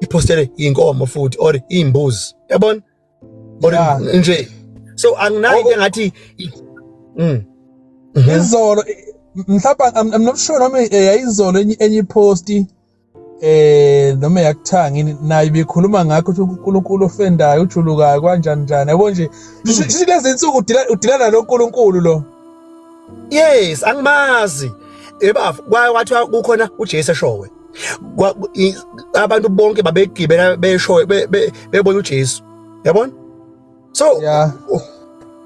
iphostele inkomo futhi or imbuzi yabona or nje so anginayo into engathi mm mhm. izolo mhlawumbe i'm not sure noma eh, yayizolo enye ipost eh noma yakuthanga yini naye bekhuluma ngakho ukuthi uNkulunkulu ofendayo ujulukayo kanjani njani yabo nje silezi insuku udilana noNkulunkulu lo yes angimazi ebafo kwathiwa kukhona uJesu eshowe abantu bonke babegibela besho bebona uJesu yabona so yeah.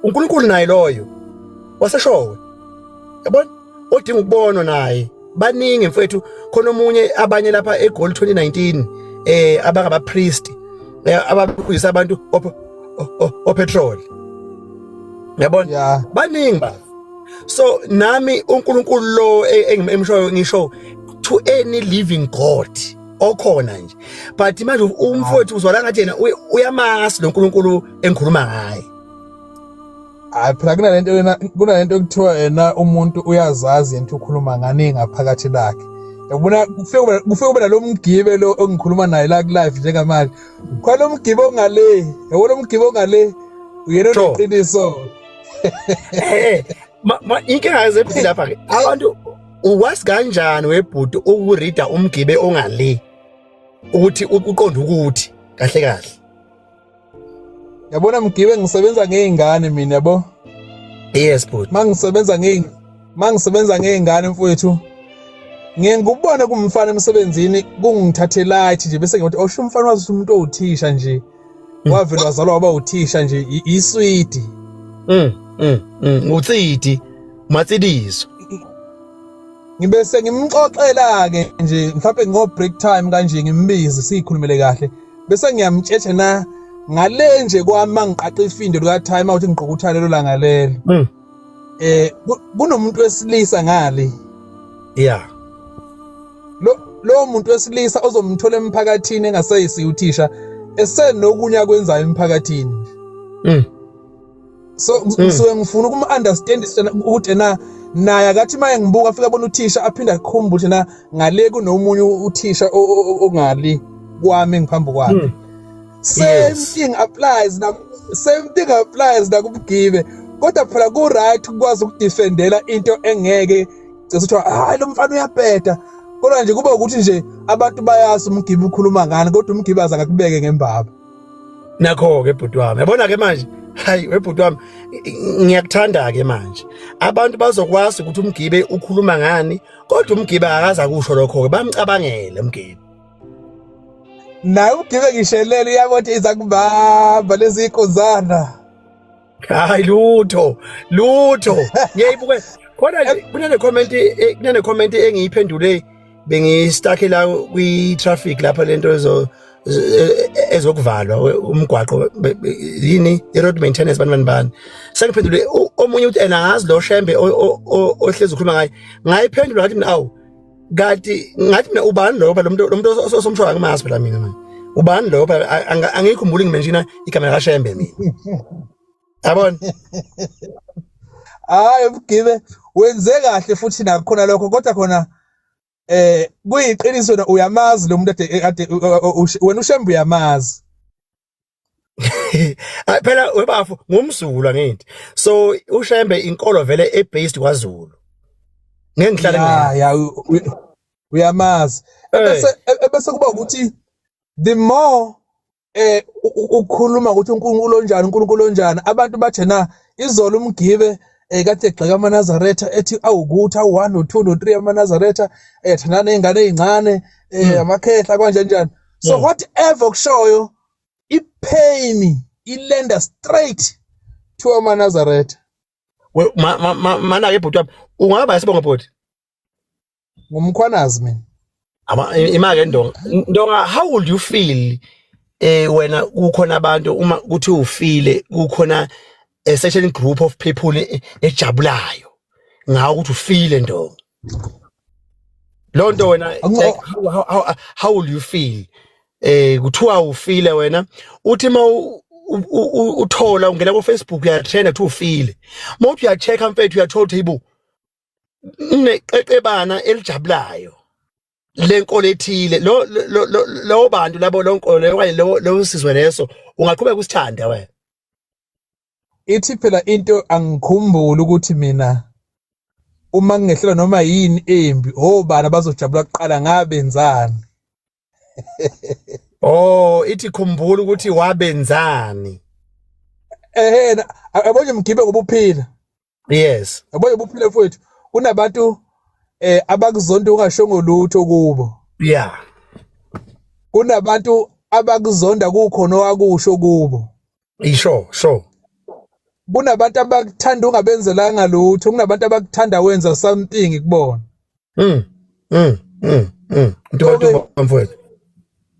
uNkulunkulu naye loyo waseshowe yabona odinga ukubonwa naye baningi mfethu khona omunye abanye lapha eGold 2019 eh abangaba priest eh, ababuyisa abantu opetrol yabona yeah. baningi ba so nami uNkulunkulu lo e, engimshoyo ngisho to any living god okhona nje but manje umfowethu uzwala ngathi yena uyamazi lo nkulunkulu engikhuluma ngaye hayi phela kunalento yena kunalento ekuthiwa yena umuntu uyazazi yena ukhuluma ngani ngaphakathi lakhe yabona kufike kufike kuba nalomgibe lo engikhuluma naye la kulive njengamanje khona umgibe ongale yabona umgibe ongale uyena oneqiniso eh inkinga yezephili lapha ke abantu uwazi kanjani webhuti ukurida umgibe ongale ukuthi uqonda ukuthi kahle kahle yabona mgibe ngisebenza ngeingane mina yabo yes bhuti mangisebenza ngeing mangisebenza ngeingane mfowethu ngiye ngikubone kumfana emsebenzini kungithathe light nje bese ngiyothi osho oh, umfana wazi umuntu owuthisha nje mm. wavele wazalwa waba uthisha nje iswidi mm, mm, mm. utsidi matsidizo ngibe sengimxoxela ke nje mhlawumbe ngo break time kanje ngimbize sikhulumele kahle bese ngiyamtshetshe na ngale nje kwami mangiqaqa ifindo lika time out ngiqokuthane lolanga lelo mm. eh kunomuntu wesilisa ngale yeah lo lo muntu wesilisa ozomthola emphakathini engaseyisi uthisha esenokunya kwenzayo emphakathini mm so mm. ngisuke ngifuna ukum understand ukuthi na naye akathi maye ngibuka afika abona uthisha aphinde akhumbule na ngale kunomunye uthisha ongali kwami ngiphambi kwakhe mm. same yes. thing applies na same thing applies na kumgibe kodwa phela ku right ukwazi ukudefendela into engeke cese kuthiwa hayi lo mfana uyabheda kodwa nje kuba ukuthi nje abantu bayazi umgibe ukhuluma ngani kodwa umgibe aza ngakubeke ngembaba nakho ke bhuti wami yabona ke manje hayi webhuti wami ngiyakuthanda ke manje abantu bazokwazi ukuthi umgibe ukhuluma ngani kodwa umgibe akaza kusho lokho ke bamcabangele umgibe naye ugibe ngishelele iyakothi iza kubamba leziyikuzana hayi lutho lutho ngiyayibuke khona kunene comment eh, kunene comment engiyiphendule bengistuck la kwi traffic lapha lento ezo e, e, ezokuvalwa umgwaqo yini i road maintenance bani bani bani sengiphendule omunye uthi ena ngazi lo shembe ohlezi ukhuluma ngaye ngayiphendula ngathi mina awu kati ngathi mina ubani lo phela umuntu umuntu osomshoyo angimazi phela mina manje ubani lo phela angiyikhumbuli ngimenshina igama la Shembe mina yabona hayi ubugibe wenze kahle futhi nakhona lokho kodwa khona eh kuyiqiniso na uyamazi lo muntu ade wena uShembe uyamazi Ay phela webafo ngumzulu angithi. So uShembe inkolo vele e based kwaZulu. Ngeke ngihlale ngayo. Yeah, yeah, uyamazi. Eh. Ebese e-, ebese kuba ukuthi the more eh ukukhuluma ukuthi uNkulunkulu onjani uNkulunkulu onjani abantu bathena izolo umgibe eh kade egxeka amaNazaretha ethi awukuthi awu1 no2 no3 amaNazaretha ethandana eh, nezingane ezincane eh hmm. amakhehla kanje njani so hmm. whatever kushoyo ipain ilenda straight to amanazaretha mana-ke bhuti wami ungaba yasibonga bhuti ngumkhwanazi mina imake ndonga ndonga how would you feel eh wena kukhona abantu uma kuthi ufile kukhona a certain group of people e- ejabulayo ngawo ukuthi ufile ndomi loo nto wena Ango- like, how, how, how, how will you feel eh kuthiwa ufile wena uthi ma u- u- u- uthola ungena kufacebook uyatrenda kuthiwa ufile ma uthi uyacheck-a mfethu uyathola ukuthi yibo neqeqebana elijabulayo lenkolo ethile lo lo- lo- lowo bantu labo lonkolo leyo okanye lowo lowo sizwe leso ungaqhubeka usithanda wena ithi phela into angikhumbuli ukuthi mina uma ngingehlelwa noma yini embi obani abazojabula kuqala ngabenzani oh ithi khumbula ukuthi wabenzani ehena abonje mgibe ngoba uphila yes yabo yobuphile mfowethu kunabantu eh abakuzonda ungashongo lutho kubo yeah kunabantu abakuzonda kukhona owakusho kubo isho sho kunabantu abakuthanda ungabenzelanga lutho kunabantu abakuthanda wenza something kubona mm mm mm mm ntokoto mfowethu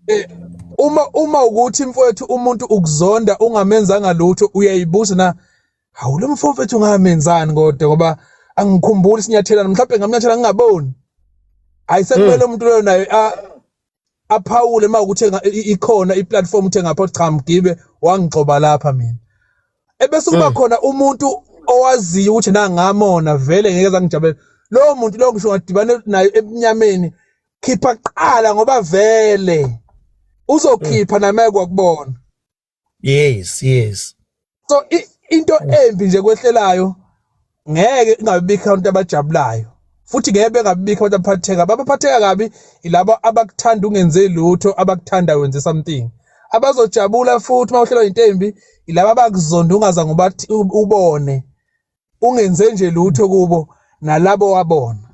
eh uma uma ukuthi mfowethu umuntu ukuzonda ungamenzanga lutho uyayibuza na hawu lo mfo mfethu ngamenzani kodwa ngoba angikhumbuli sinyathelana mhlawumbe ngamnyathela ngingaboni hayi sekumele hmm. umuntu loyo naye aphawule uma ukuthi ikhona iplatform uthe ngapha cha mgibe wangigxoba lapha mina ebese kuba hmm. khona umuntu owaziyo ukuthi nangamona vele ngeke zangijabela lowo muntu lowo ngisho ngadibane naye ebunyameni khipha kuqala ngoba vele uzokhipha hmm. namaye kwakubona yes yes so i- into embi nje kwehlelayo ngeke ingabibikho abantu abajabulayo futhi ngeke bengabibikho abantu abaphatheka abaphatheka kabi ilabo abakuthanda ungenze lutho abakuthanda wenze something abazojabula futhi uma uhlelwa yinto embi ilabo abakuzonda ungazange ubathi- u- ubone ungenze nje lutho kubo nalabo wabona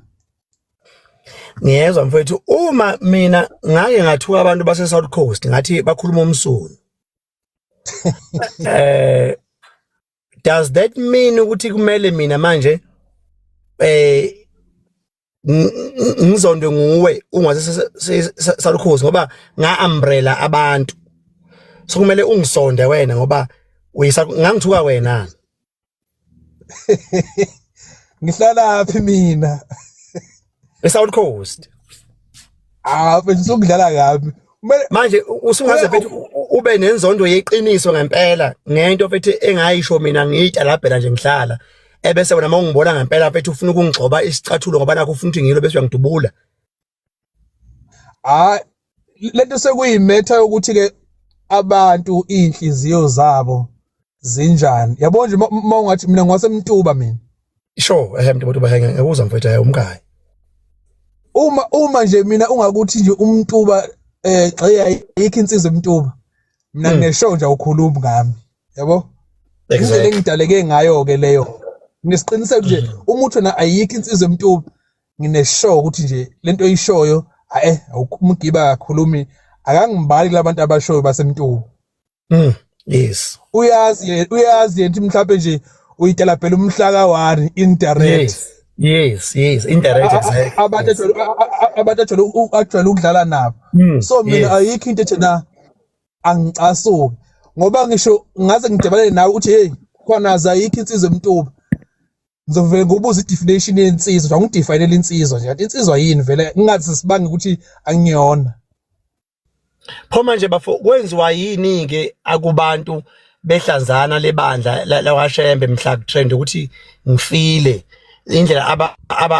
ngiyezwa mfethu uma mina ngake ngathuka abantu base South Coast ngathi bakhuluma umsunu eh does that mean ukuthi kumele mina manje eh ngizondwe nguwe ungase salukhozi ngoba nga umbrella abantu so kumele ungisonde wena ngoba uyisa ngangithuka wena ngihlala phi mina eSouth Coast ah bese ukudlala kabi manje usungaze bethi ube nenzondo yeqiniso ngempela ngento bethi engayisho mina ngiyitalabhela nje ngihlala ebese wena mawungibona ngempela bethi ufuna ukungigcoba isicathulo ngoba nakho ufuna ukuthi ngilo bese uyangidubula hayi lento sekuyimetha yokuthi ke abantu inhliziyo zabo zinjani yabo nje uma ungathi mina ngwasemtuba mina sure ehe mntu botuba henge ngekuza mfethu hayi umkhaya uma uma nje mina ungakuthi nje umtuba eh gxeya ayikho insizwa emtuba mina hmm. ngineshow nje awukhulumi ngami yabo indlela engidaleke ngayo ke leyo ngisiqiniseko nje hmm. uma uthi na ayikho insizwa emtuba ngineshow ukuthi nje lento oyishoyo hayi umgiba akakhulumi akangibali labantu abashoyo basemtuba mm yes uyazi uyazi yena mhlawumbe nje uyitela phela umhla ka 1 indirect yes. Yes, yes, indirect exactly. Abantu abantu ajwayele ajwayele ukudlala nabo. Hmm, so mina ayikho into ethi na angicasuki ngoba ngisho ngaze ngidebalele nawe ukuthi hey khona azayikho insizwa emtuba. Ngizovele ngobuza i-definition yensizwa, njengoba ngidefinele insizwa nje. Insizwa yini vele ngingathi sibanga ukuthi angiyona. pho manje bafo kwenziwa yini ke akubantu behlanzana lebandla lakwashembe mhla kutrend ukuthi ngifile indlela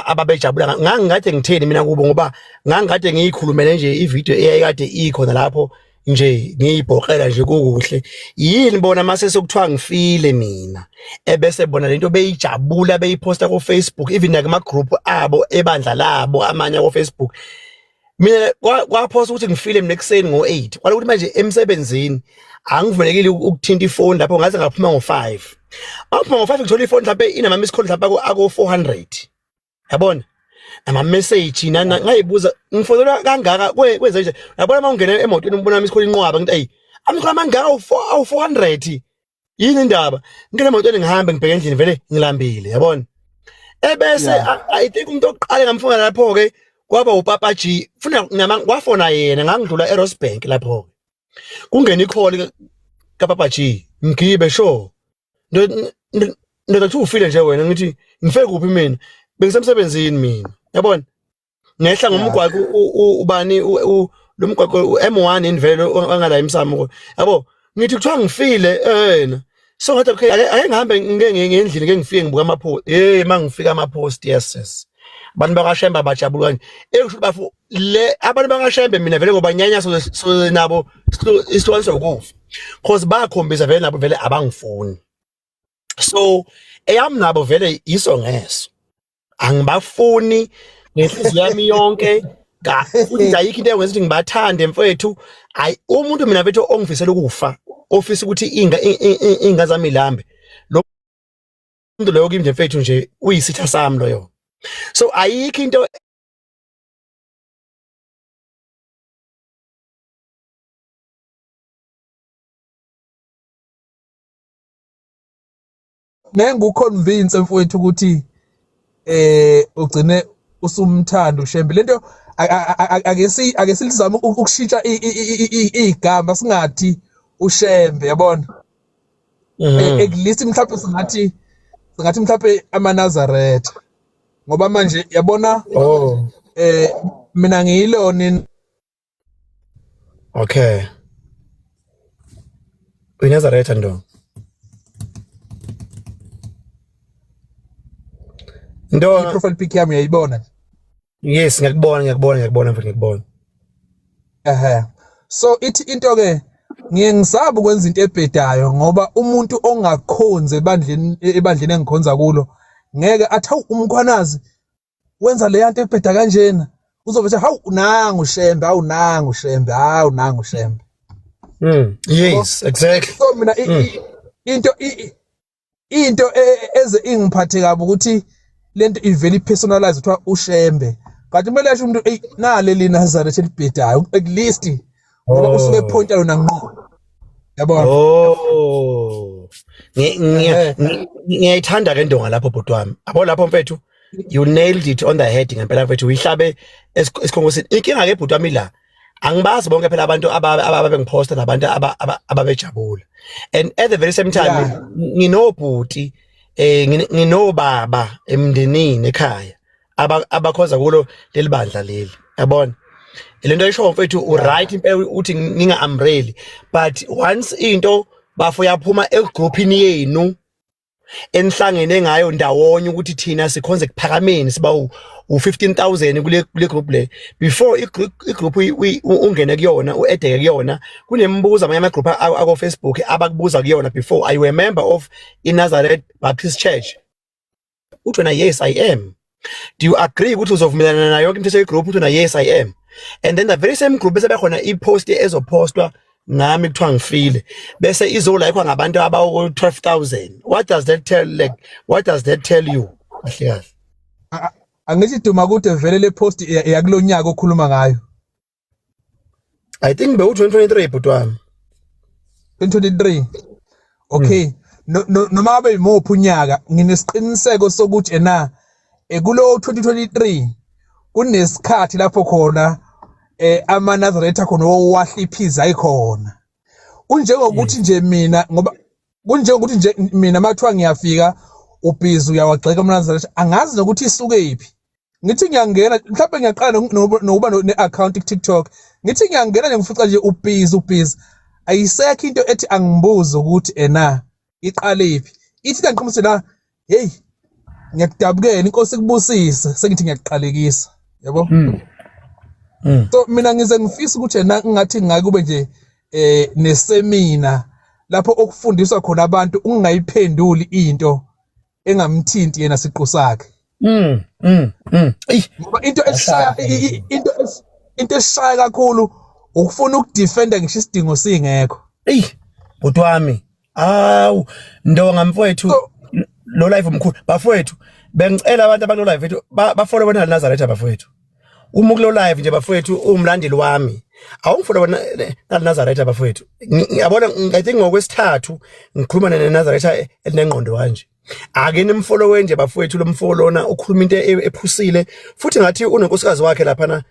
ababejabula aba, aba ngangikade ngitheni mina kubo ngoba ngangikade ngiyikhulumele nje ivideo eyayikade ikhona lapho nje ngiyibhoqela nje kukuhle yini bona mase sokuthiwa ngifile mina ebese bona lento beyijabula beyiposta ku Facebook even nakuma group abo ebandla labo amanye ku Facebook mina kwaphosa ukuthi ngifile mina ekuseni ngo-8 kwale ukuthi manje emsebenzini angivumelekile ukuthinta ifoni lapho ngaze ngaphuma ngo-5 maphuma ngo-5 ngithola ifoni mhlawumbe inama-miss call mhlawumbe ako-400 yabona nama-message nana ngayibuza ngifonelwa kangaka kwenze nje yabona uma ungena emotweni umbona ama-miss call inqwaba ngithi ayi amikhola amangaka awu-400 yini indaba ngene moto ngihambe ngibheke endlini vele ngilambile yabona ebese i think umuntu oqale ngamfuna lapho ke kwaba upapa G funa nama kwafona yena ngangidlula eRosebank lapho ke kungena ikholi kapapa G ngibe sho ndoda kuthi ufile nje wena ngithi ngife kuphi mina bengisemsebenzini mina yabona ngehla ngomgwaqo ubani lo mgwaqo u-M1 indvelo ongala emsamo ko yabo ngithi kuthiwa ngifile yena so ngathi okay ake ngihambe ngike ngendlini ke ngifike ngibuka ama post hey mangifika ama post yes yes abantu bakashembe abajabula kanje ekusho bafu le abantu bakashembe mina vele ngoba nyanya so nabo isihlwani sokufa cause bakhombisa vele nabo vele abangifuni so eyami nabo vele iso ngeso angibafuni ngenhliziyo yami yonke ga futhi nje ayikho into engenza ukuthi ngibathande mfowethu hayi umuntu mina mfethu ongifisela ukufa ofisa ukuthi inga i- i- i- inga zami ilambe lo muntu loyo kimi nje mfethu nje uyisitha sami loyo so ayikho into nenguconvince mfowethu ukuthi eh ugcine usumthanda ushembe lento ake si ake silizama ukushintsha igama singathi ushembe yabona mhm. e, ekulisi mhlawumbe singathi singathi mhlawumbe amanazaretha ngoba manje yabona oh. eh mina ngiyilona Okay. Uyinazaretha ndo. Ndo. Ni profile pic yami yaibona. Yes, ngiyakubona, ngiyakubona, ngiyakubona mfana ngiyakubona. Ehhe. So ithi into ke ngiye ngisaba ukwenza into ebhedayo ngoba umuntu ongakhonzi ebandleni ebandleni engikhonza kulo ngeke athawu umkhwanazi wenza leya nto ebheda kanjena uzobe ethi hawu unangu shembe hawu nangu shembe hawu nangu shembe mm yes exactly so mina mm. into into e, eze ingiphathe kabi ukuthi lento ivele ipersonalize kuthiwa ushembe kanti kumele asho umuntu eyi nale linazareth elibhedayo at least ngoba oh. usuke ephonta yona ngqo yabona oh eh. ngiyayithanda ke ndonga lapho bhuti wami abo lapho mfethu you nailed it on the head ngempela mfethu uyihlabe esikhongosini inkinga ke bhuti wami la angibazi bonke phela abantu ababe ngiphosta nabantu ababejabula and at the very same time nginobhuti eh nginobaba emndenini ekhaya abakhonza kulo leli bandla leli yabona lento ayisho mfethu u right impela uthi ninga umbrella but once into bafo yaphuma egroupini yenu enihlangene ngayo ndawonye ukuthi thina sikhonze kuphakameni siba u15000 kule kule group le before igroup ungene kuyona uedeke kuyona kunemibuzo amanye ama group ako Facebook abakubuza kuyona before i remember of i Nazareth Baptist Church uthi wena yes i am do you agree ukuthi uzovumelana nayo yonke imithetho yegroup uthi wena yes i am and then the very same group bese bekhona ipost ezopostwa ngami kuthiwa ngifile bese izolayikwa ngabantu abawu 12000 what does that tell like what does that tell you kahle kahle angithi duma kude vele le post yakulonyaka okhuluma ngayo I think bewu 2023 bhuti wami. 2023. Okay. Hmm. No no noma abe imophi unyaka nginesiqiniseko sokuthi ena ekulo eh, 2023 kunesikhathi lapho khona eh ama Nazareth khona owahla iphiza ikhona. Kunjengokuthi nje mina ngoba kunjengokuthi nje mina mathiwa ngiyafika ubhizi uyawagxeka umnazareth angazi nokuthi isukephi ngithi ngiyangena mhlawumbe ngiyaqala nokuba ne-akhawunti ku-tiktok ngithi ngiyangena nje ngifica nje ubhizi ubhizi ayisekho into ethi angibuze ukuthi ena iqalephi ithi kangiqhumuse la heyi ngiyakudabukela inkosi ikubusise sengithi ngiyakuqalekisa yabo hmm. Hmm. so mina ngize ngifisa ukuthi ena ngathi ngakube nje eh nesemina lapho okufundiswa khona abantu ungayiphenduli into engamthinti yena siqu sakhe mm mm mm ngoba into esishaya into into esishaya kakhulu ukufuna ukudefenda ngisho isidingo singekho ey bhuti wami awu ndonga mfowethu lo live mkhulu bafowethu bengicela abantu abalo live bafole bona Nazareth bafowethu uma ukulo live nje bafowethu umlandeli wami awungifuna bona nazaretha bafowethu ngiyabona i think ngokwesithathu ngikhuluma nenazaretha elinengqondo kanje ake nimfolowe nje bafowethu lo mfo lona ukhuluma into e-, ephusile futhi ngathi unenkosikazi wakhe laphana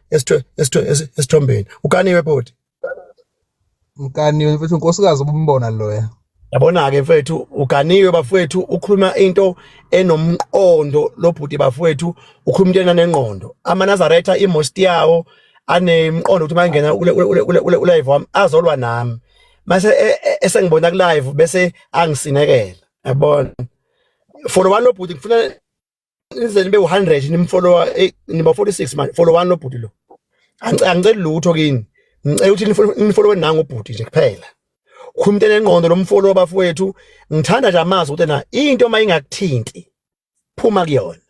esithombeni ukaniwe bhodi mkaniwe mfethu unkosikazi ubumbona loya yabona-ke mfethu uganiwe bafowethu ukhuluma into enomqondo lobhuti bafowethu ukhuluma into enanengqondo amanazaretha imosti yawo anemqondo ukuthi mangena ulive wami azolwa nami mase e, e, esengibona kulive bese angisinekela yabona for one lobhuti ngifuna nize nibe u-100 nimfollowa eh, niba 46 manje followani lobhuti lo angiceli lutho kini ngicela ukuthi nifolowe nangu ubhuti nje kuphela khumntu enengqondo lomfolo bafowethu ngithanda nje amazi ukuthi na into uma ingakuthinti phuma kuyona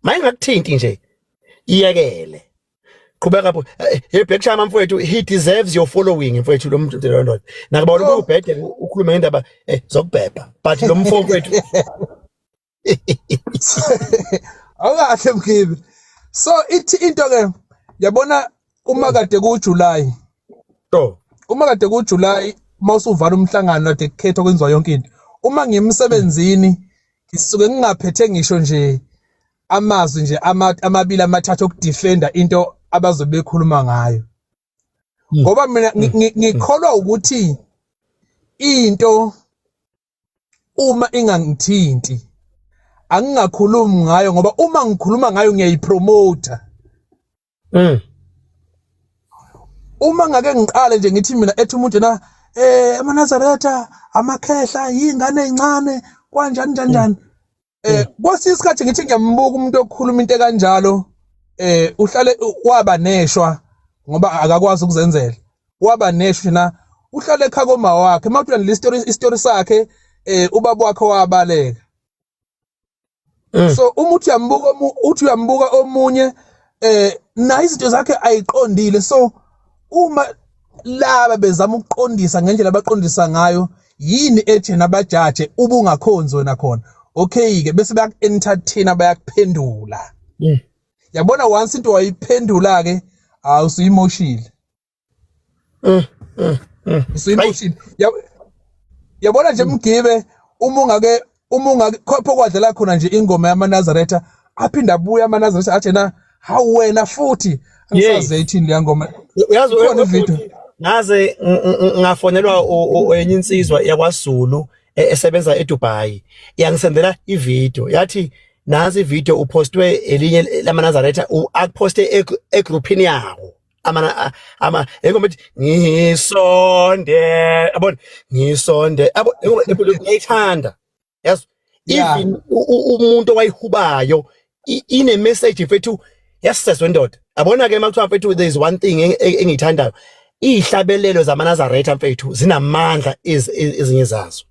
uma ingakuthinti nje iyekele qhubeka bo eh, hey black chama mfowethu he deserves your following mfowethu lo muntu lo ndoda nakuba ubhede ukhuluma ngendaba eh, zokubhebha but lo mfowethu awukahle mkhibi so ithi into ke yabona uma kade kujuly to uma kade kujuly uma usuvala umhlangano kade kukhethwa kwenziwa yonke into uma ngiyemsebenzini ngisuke ngingaphethe ngisho nje amazwi nje amabili amathathu okudefenda into abazobe bekhuluma ngayo hmm. ngoba mina hmm. ngikholwa ukuthi into uma ingangithinti angingakhulumi ngayo ngoba uma ngikhuluma ngayo ngiyayipromoter mm uma ngake ngiqale nje ngithi mina ethi umuntu na eh amanazaretha amakhehla yingane ezincane kwanjani njani njani eh kwesinye isikhathi ngithi ngiyambuka umuntu okhuluma into kanjalo eh uhlale waba neshwa ngoba akakwazi ukuzenzela waba neshwa na uhlale ekhaya koma wakhe uma uthanda le story istory sakhe eh ubaba wakhe wabaleka eh. so uma uthi uyambuka uthi uyambuka omunye eh naye izinto zakhe ayiqondile so uma laba bezama ukuqondisa ngendlela abaqondisa ngayo yini ethi nabajaje ubungakhonzi wena khona okay ke bese bayaku-entertain bayakuphendula yeah yabona once into wayiphendula ke hawu usuyimoshile eh eh, eh. usuyimoshile yabona nje mgibe uma ungake uma ungakhopha okwadlala khona nje ingoma yamanazaretha aphinde abuye amanazaretha athi na hawu wena futhi angisaze ithini leya ngoma uyazi khona ivideo ngaze ngafonelwa enye insizwa yakwazulu e, esebenza edubai yangisendela ivideo yathi nansi ivideo upostwe elinye lamanazaretha akuphoste egruphini yawo amana ama engoma ethi ngisonde yabona ngisonde yabo engoma enkulu ngiyayithanda yazi Yeah. even u- u- umuntu owayihubayo i- ine message mfethu yasisezwe ndoda yabona ke makuthiwa mfethu there is one thing eng- eng- engiyithandayo iyihlabelelo zamanazaretha mfethu zinamandla iz- iz- ezinye zazo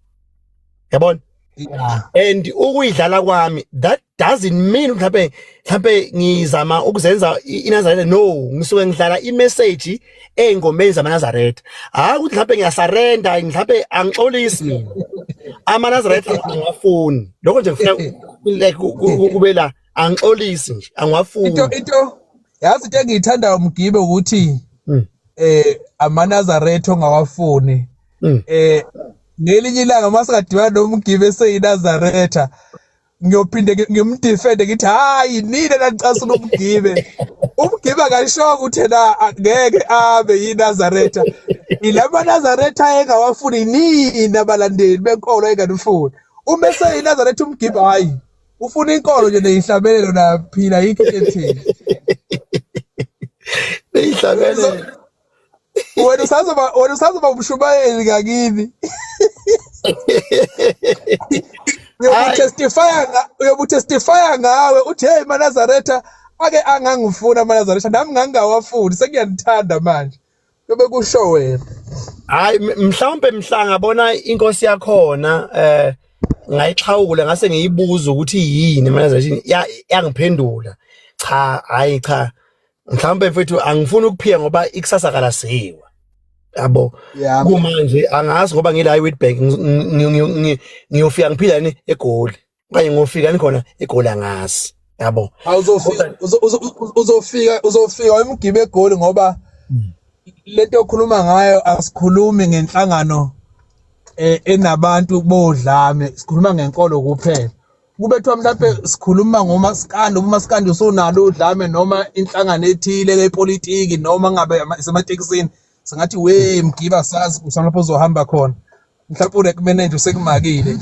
yabona Yeah. and ukuyidlala kwami that doesn't mean mhlambe mhlambe ngizama ukuzenza iNazaretha no ngisuke ngidlala imessage engomeni zamaNazaretha hayi ukuthi mhlambe ngiyasarenda mhlambe angixolisi mina amaNazaretha angafuni lokho nje ngifuna like kube la angixolisi nje angwafuni into into yazi into engiyithandayo mgibe ukuthi hmm. eh amaNazaretha ongawafuni hmm. eh ngelinye ilanga masikadibana nomgibe seyiNazaretha ngiyophinde ngimdefende ngithi hayi nina nanicasula umgibe umgibe akashonga ukuthi na ngeke abe yinazaretha ilama nazaretha engawafuni nini abalandeli benkolo enganifuni uma eseyinazaretha umgibe hayi ufuna inkolo nje neyihlabelelo naphila yikho ethini neyihlabelelo wena usazoba wena usazoba umshumayeli ngakini uyobutestifya uyobutestifya ngawe uthi hey manazaretha ake angangifuna manazaretha nami ngangingawafuni sengiyandithanda manje yobe kusho wena hayi mhlawumbe mhla ngabona inkosi yakhona eh ngayixhawula ngase ngiyibuza ukuthi yini manazaretha yangiphendula cha hayi cha mhlawumbe mfethu angifuni ukuphiya ngoba ikusasa kalaziwa yabo kumanje angazi ngoba ngila iWitbank ngiyofika ngiphila ni egoli okanye ngofika nikhona egoli angazi yabo uzofika uzofika uzofika emgibe egoli ngoba hmm. lento okhuluma ngayo asikhulumi ngenhlangano eh, enabantu bodlame sikhuluma ngenkolo kuphela kubethwa mhlawumbe sikhuluma ngomasikandi umasikandi usunalo udlame noma inhlangano ethile yepolitiki noma ngabe isematekisini singathi we mgiba sazi usalapho uzohamba khona mhlawumbe urek manager usekumakile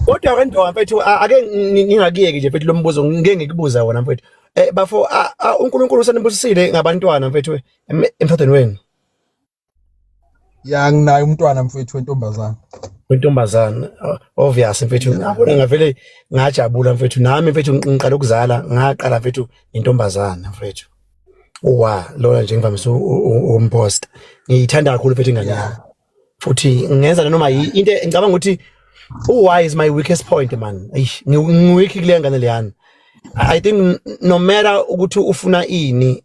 kodwa ke ndoka mfethu ake ngingakuyeki nje mfethu lo mbuzo ngike ngikubuza wona mfethu eh bafo uNkulunkulu usanibusisile ngabantwana mfethu emthathweni wenu ya nginaye umntwana mfethu wentombazana wentombazana obvious mfethu ngabona ngavele ngajabula mfethu nami mfethu ngiqala ukuzala ngaqala mfethu intombazana mfethu uwa lona nje ngivamise umpost ngiyithanda kakhulu mfethu ingane yami futhi ngenza noma into ngicabanga ukuthi uwhy is my weakest point man eish ngiweak kule ngane leyana i think no matter ukuthi ufuna ini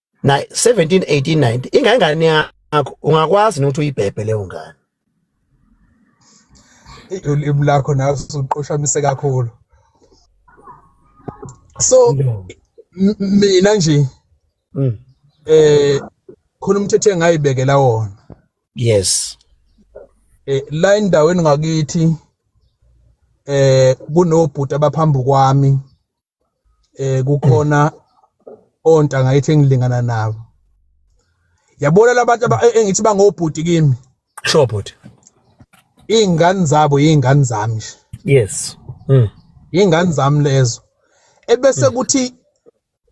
na 17 18 19 ingane yakho ungakwazi ukuthi uyibhebhe leyo ngane ulimi lakho nawe usuqoshamise kakhulu so mina nje mm. eh khona umthetho engayibekela wona yes eh la endaweni ngakithi eh kunobhuti abaphambi kwami eh kukhona ontanga ngayithi engilingana nabo yabona labantu e, engithi bangobhuti kimi sure bhuti iy'ngane zabo yiy'ngane zami nje yes mm. yiy'ngane zami lezo ebese mm. kuthi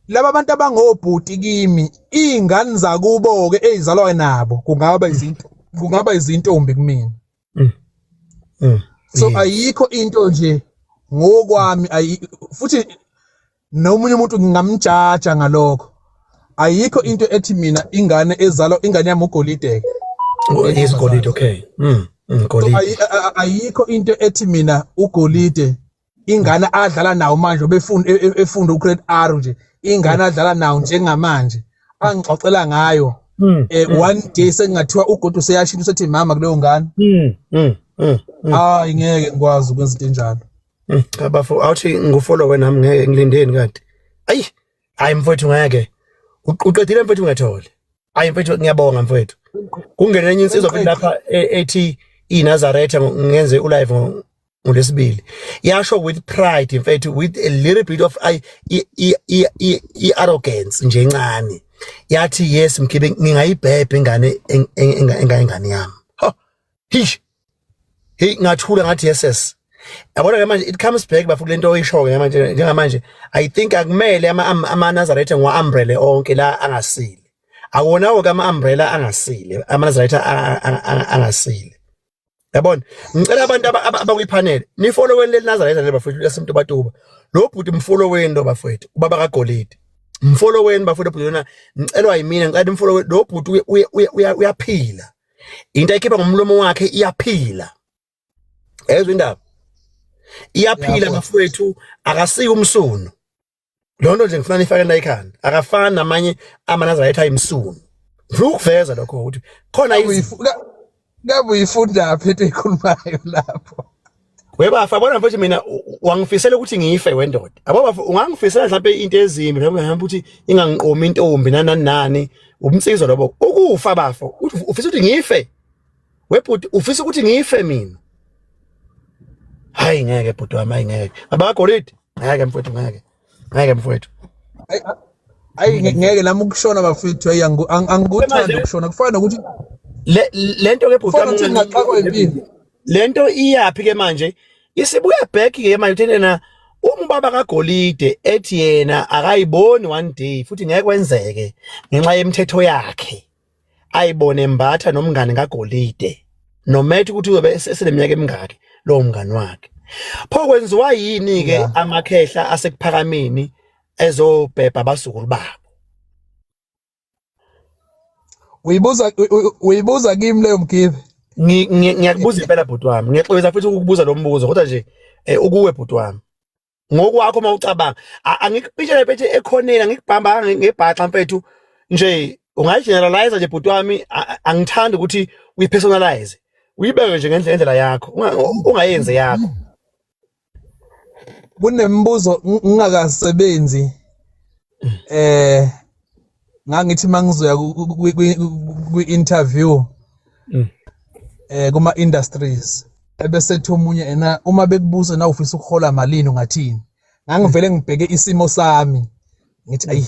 laba bantu abangobhuti kimi iy'ngane zakubo-ke ey'zalwa nabo kungaba izinto kungaba izintombi kumina mm. Mm. so mm. ayikho into nje ngokwami futhi nomunye umuntu ngingamjaja ngalokho ayikho into ethi mina ingane ezalwa ingane yami ugolide oh, isigolide okay mm, mm ayikho into ethi mina ugolide ingane adlala nawo manje obefunda e- e- efunda ugrade R nje ingane adlala nawo njengamanje angixoxela ngayo Mm, eh one day sengathiwa ugodo seyashintsha sethi mama kuleyo ngane mm, mm, mm, mm. hayi ngeke ngikwazi ukwenza into enjalo Mm, cha bafo awuthi ngufollow wena nami ngeke ngilindeni kanti ayi hayi mfowethu ngeke U- uqedile mfowethu ngethole hayi mfowethu ngiyabonga mfowethu kungene enye insizwa futhi lapha e- ethi inazaretha ngo- ngenze ulive ngo- ngolesibili yasho with pride in fact with a little bit of i i arrogance nje incane yathi yes mkhibe ngingayibhebhe ingane engayingane yami ha hish hey ngathula ngathi yeses yabona ke manje it comes back bafu kulento oyishoyo ke manje njengamanje i think akumele ama ama Nazareth ngwa umbrella onke la angasile akuwona wonke ama umbrella angasile ama Nazareth angasile yabona ngicela abantu abakwipanel nifolloweni leli nazareth leli bafowethu lasemntu batuba lo bhuti mfolloweni lo bafowethu ubaba kagolide mfolloweni bafowethu bhuti lona ngicelwa yimina ngicela nimfolloweni lo bhuti uyaphila into ayikhipha ngomlomo wakhe iyaphila ezwe indaba iyaphila bafowethu akasike umsunu loo nto nje ngifuna nifake na ikhanda akafani namanye amanazarayitha ayimsunu ngifuna ukuveza lokho ukuthi khona ngabe uyifundaphi into eyikhulumayo lapho webafa bona mfethu mina wangifisela ukuthi ngife wendoda abo bafa ungangifisela mhlawumbe into ezimbi mhlawumbe ngihamba ukuthi ingangiqomi intombi nanani nani ubumsizwa lobo ukufa bafo ufisa ukuthi ngife webhuti ufisa ukuthi ngife mina hayi ngeke bhuti wami hayi ngeke baba golidi ngeke mfowethu ngeke ngeke mfowethu hayi ngeke nami ukushona bafethu hayi angikuthandi ukushona kufana nokuthi lento ke bhuti wami ngaxakwa impilo lento iyaphi ke manje isibuya back ke manje uthene na umbaba kagolide ethi yena akayiboni one day futhi ngeke kwenzeke ngenxa yemithetho yakhe ayibone embatha nomngane kagolide nomethe ukuthi uyobe eseneminyaka emingaki lowo mngani wakhe pho kwenziwa yini ke amakhehla asekuphakameni ezobhebha abazukulu babo uyibuza uyibuza kimi leyo mgibe ngiyakubuza impela bhuti wami ngiyaxolisa futhi ukukubuza lo mbuzo kodwa nje eh, ukuwe bhuti wami ngokwakho uma ucabanga angikupitshele phethe ekhoneni angikubhamba ngebhaxa mfethu nje ungayigeneralize nje bhuti wami angithandi ukuthi uyipersonalize uyibeke nje ngendlela yakho ungayenze yakho kunemibuzo ngingakasebenzi eh ngangithi mangizoya kwi interview mm. eh kuma industries ebese ethi omunye ena uma bekubuza na ufisa ukuhola malini ungathini ngangivele ngibheke isimo sami ngithi ayi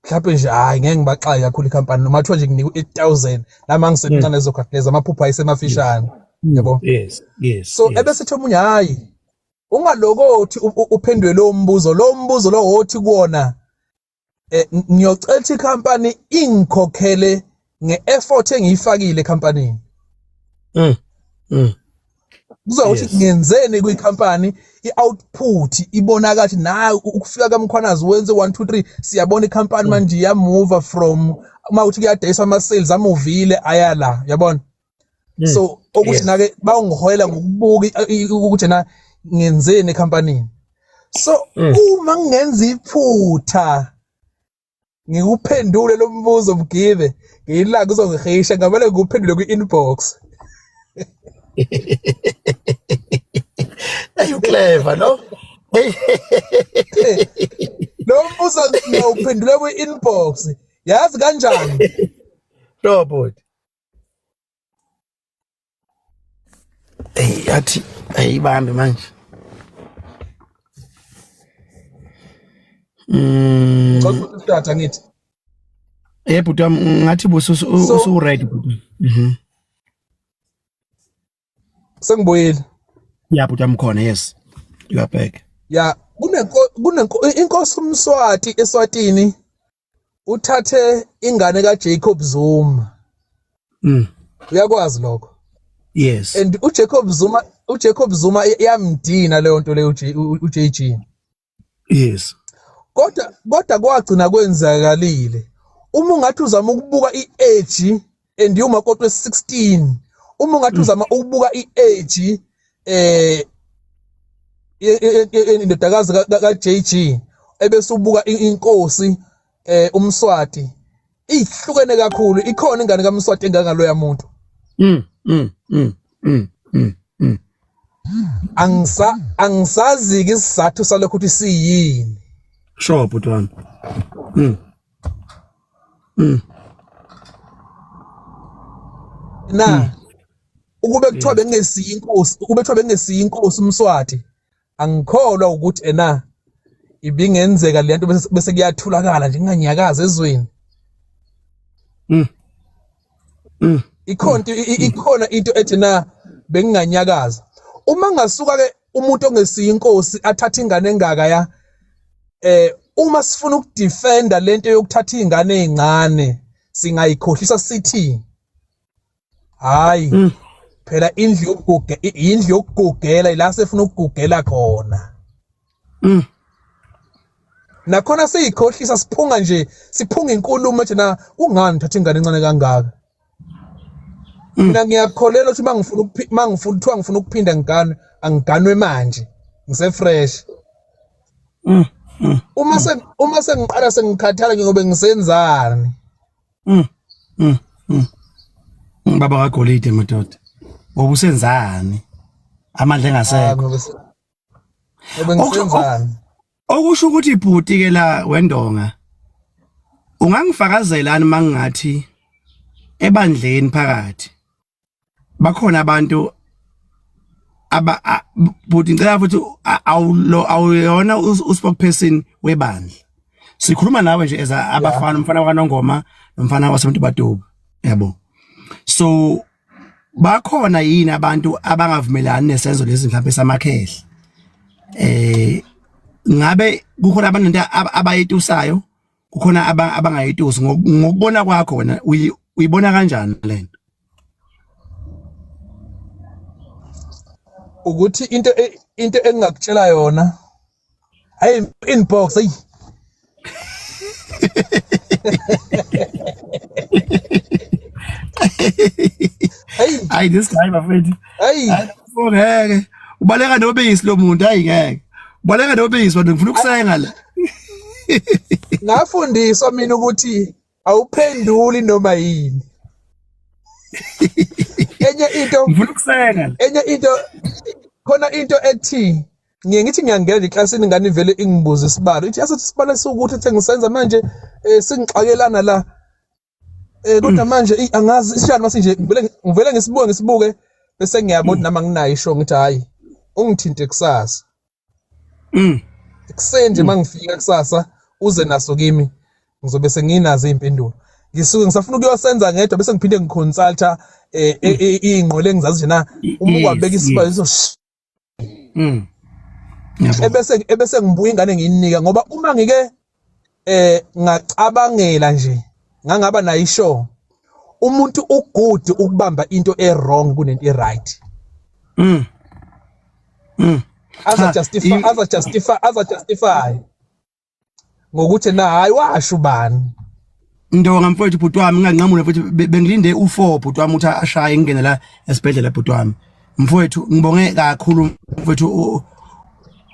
mhlawumbe nje hayi ngeke ngibaxaye kakhulu ikhampani noma kuthiwa nje nginikwa eight thousand nami angisemncane ezokhatheza amaphupha ayisemafishane yabo yes yes so ebese ethi omunye hhayi ungalokothi uphendwe lo mbuzo lo mbuzo lo wothi kuona eh, ngiyocela ukuthi company ingikhokhele ngeeffort engiyifakile company mm mm kuzothi ngenzeni kwi company i output ibonaka ukuthi nayo ukufika kamkhwanazi wenze 1 2 3 siyabona i company mm. manje ya move from uma uthi kuyadayisa ama sales amuvile ayala yabona mm. so okuthi nake bawungihoyela ngokubuka ukuthi na ngenzeni ecompanyini so mm. uma ngenza iphutha ngikuphendule lo mbuzo mgibe ngiyilanga uzongihisha ngamele ngikuphendule kwi-inbox Hey uclever no? Lo mbuzo ngiyawuphendula kwi-inbox. Yazi kanjani? No bhuti. Eyi athi ayibambe manje. Mm. Cha utata ngithi. Eh bhuti wami ngathi busu usu right bhuti. Mhm. Sengibuyile. Yeah bhuti wami khona yes. You are back. Yeah kunenko kunenko inkosi umswati eswatini uthathe ingane ka Jacob Zuma mm uyakwazi lokho yes and u Jacob Zuma u Jacob Zuma yamdina leyo nto leyo u JG yes kodwa kodwa kwagcina kwenzakalile uma ungathi uzama ukubuka i-age and iwumakoti we-16 uma ungathi mm. uzama ukubuka i-age eh indodakazi ka-JG ebese ubuka inkosi eh umswati ihlukene kakhulu ikhona ingane kaMswati engangaloya muntu mm mm mm mm mm, mm. angisa angisazi ke isizathu salokho ukuthi siyini sure butwana mm mm. na mm. ukube kuthiwa bengesiyi inkosi ukube kuthiwa bengesiyi inkosi umswati angikholwa ukuthi ena ibingenzeka le nto bese kuyathulakala nje nginganyakaza ezweni mm. mm. ikhona ikhona into ethi na benginganyakaza uma ngasuka ke umuntu ongesiye inkosi athatha ingane engaka ya eh uma sifuna ukudefenda lento yokuthatha izingane ezincane singayikhohlisa sithi hayi mm. phela indlu yokuguge indlu yokugugela ila sefuna ukugugela khona mm. nakhona siyikhohlisa siphunga nje siphunga inkulumo ethi na kungani thatha ingane encane kangaka Mm. mina ngiyakholelwa ukuthi uma ngifuna ukuphi- uma ngifuna kuthiwa ngifuna ukuphinda ngiganwe angiganwe manje ngisefresh Mm, mm, uma se uma sengiqala sengikhathala nje ngobe ngisenzani mm, mm, mm. Mm, baba kagolide madoda ngoba usenzani amandla Ah, engasekho ngobe se- Obengisenzani? Okusho ukuthi bhuti ke la wendonga. Ungangifakazelani mangingathi ebandleni phakathi bakhona abantu aba bhuti ngicela futhi awulo awuyona uspokesperson webandla sikhuluma nawe nje as abafana umfana kwaNongoma nomfana wasemuntu baduba yabo so bakhona yini abantu abangavumelani nesenzo lezi mhlawumbe samakhehla eh ngabe kukhona abantu abayitusayo kukhona abangayitusi ngokubona kwakho wena uyibona kanjani lento ukuthi into e, into engingakutshela yona Hey inbox hey Hey ay this guy bafethu Hey ngeke ubaleka nobisi lo muntu hayi ngeke ubaleka nobisi wena ngifuna ukusenga la Ngafundiswa mina ukuthi awuphenduli noma yini enye into ngifuna ukusenga enye into khona into ethi ngiye ngithi ngiyangena eklasini ingane ivele ingibuze isibalo ithi yasethi isibalo esiwukuthi ethe ngisenza manje um singixakelana la um kodwa manje angazi isishani mase nje ngivele ngisibuke ngisibuke bese ngiyabo ukuthi nami anginayo isho ngithi hhayi ungithinte kusasa mm. ekuseni nje uma ngifika kusasa uze naso kimi ngizobe senginazo iy'mpendulo ngisuke ngisafuna ukuyosenza ngedwa bese ngiphinde ngiconsulta um eh, eh, eh, iy'ngqwele engizazi nje na uma ukwabeka isibalo mm ebese ebese ngibuya ingane ngiyinika ngoba uma ngike eh ngacabangela nje ngangaba nayo ishow umuntu ugood ukubamba into ewrong kunento eright mm mm aza justify aza justify aza justify ngokuthi na hayi washo ubani Ndonga mfowethu bhuti wami nganqamula futhi bengilinde u4 bhuti wami uthi ashaye ngingene la esibhedlela bhuti wami mfowethu ngibonge kakhulu mfowethu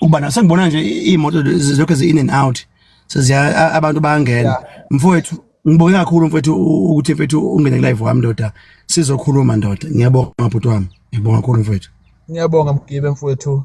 ukuba naso ngibona nje imoto zonke zi in and out seziya abantu bayangena mfowethu ngibonge kakhulu mfowethu ukuthi mfowethu ungene live wami ndoda sizokhuluma ndoda ngiyabonga bhuti wami ngibonga kakhulu mfowethu ngiyabonga mgibe mfowethu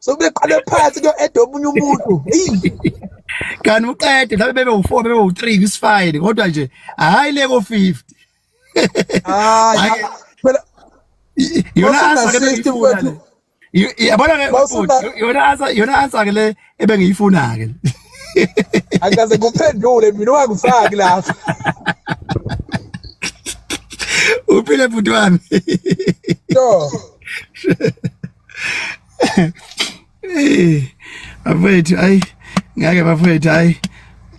sokubeqale phansi kuyo-eda omunye umuntu kanti uqede mhlawumbe bebe u-four bebe u-three kwisifayini kodwa nje hhayi le ko-fifty yona answer ke le ebengiyifuna ke angikaze kuphendule mina ungangifaki lapha uphile bhuti wami Eh, bafethu ayi ngeke bafethu ayi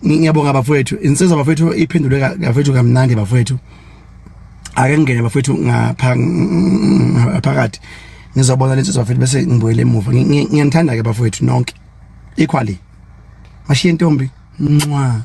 ngiyabonga bafethu insizwa bafethu iphendule bafethu kamnandi bafethu ake ngene bafethu ngapha phakathi ngizobona lensizwa bafethu bese ngibuyele emuva ngiyanithanda ke bafethu nonke equally mashiye ntombi ncwa